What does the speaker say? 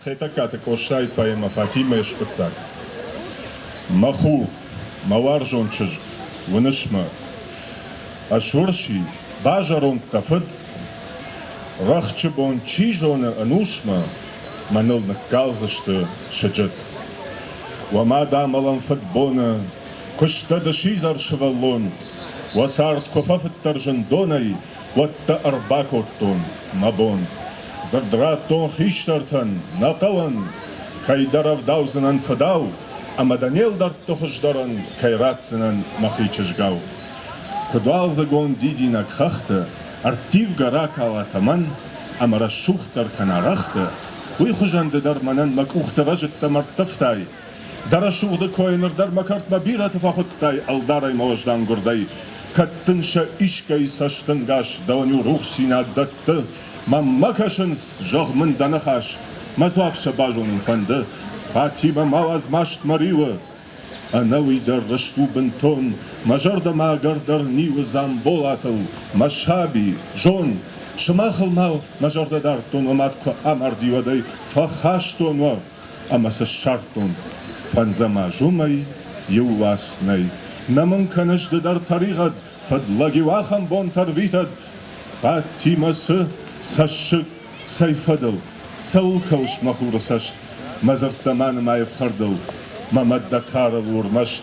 Хетӕгкаты Къостайы поэмӕ Фатимӕ-йы скъуыддзаг. Мӕ ху, мӕ уарзон чызг, уыныс мӕ? Ӕз урси, базӕронд дӕ фыд? Рӕхджы бон, чи зоны, ӕнусмӕ мӕныл ныккалдзысты сыджыт. Уӕ мад амӕлӕм фыдбоны, куы сдӕ ды сидзӕр сывӕллон, Уӕ цард куы фӕфыддӕр зындонӕй, уӕдта ӕрбакодтон мӕ бон. Дзырд радтон хистӕртӕн, нӕ хъӕуӕн, кӕйдӕр ӕвдаудзынӕн фыдау, ӕмӕ дӕ не лдӕртты хуыздӕрӕн кӕй ратдзынӕн мӕхи чызгау. Куыд уалдзыгон дидинӕг хӕхты ӕрттивгӕ ракала тӕмӕн ӕмӕ рӕсугъддӕр кӕна рӕгъты, уый хуызӕн ды дӕр мӕнӕн мӕ къухты рӕзыдтӕм ӕрттывтай, Дӕ рӕсугъды кой ныр дӕр мӕ кӕртмӕ бирӕты фӕхуыдтай ӕлдарӕй мӕ уӕздан гуырдӕй. Кӕд дын сӕ искӕй цӕстӕнгас дӕлӕ-иу рухсдзинад дӕтты, мӕм ма кӕсынц, зӕгъ мын дӕ ныхас, мӕ дзуапп сӕ базонын фӕнды. Фатимӕ ма уадз маст мӕ риуы, ӕнӕуый дӕр рыст у бынтон, мӕ зӕрдӕмӕ ӕгӕрдӕр ниуы Дзамболатыл, мӕ саби, зон, сымахыл ма мӕ зӕрдӕ дардтон уӕ мад куы амарди, уӕдӕй фӕхастон уӕ, ӕмӕ цы ссардтон, фӕндзӕм азымӕй иу уац нӕй. Нӕ мын кӕныс ды дӕр тӕригъӕд, фыд лӕг-иу ахӕм бонтӕ рвитӕд. Фатимӕ цы цӕссыг, цӕй фӕдыл, цӕуыл кӕуыс, мӕ хуры цӕст? Мӕ дзырдтӕ ма нымай ӕфхӕрдыл, мӕ мӕ дӕ карыл уырмӕст.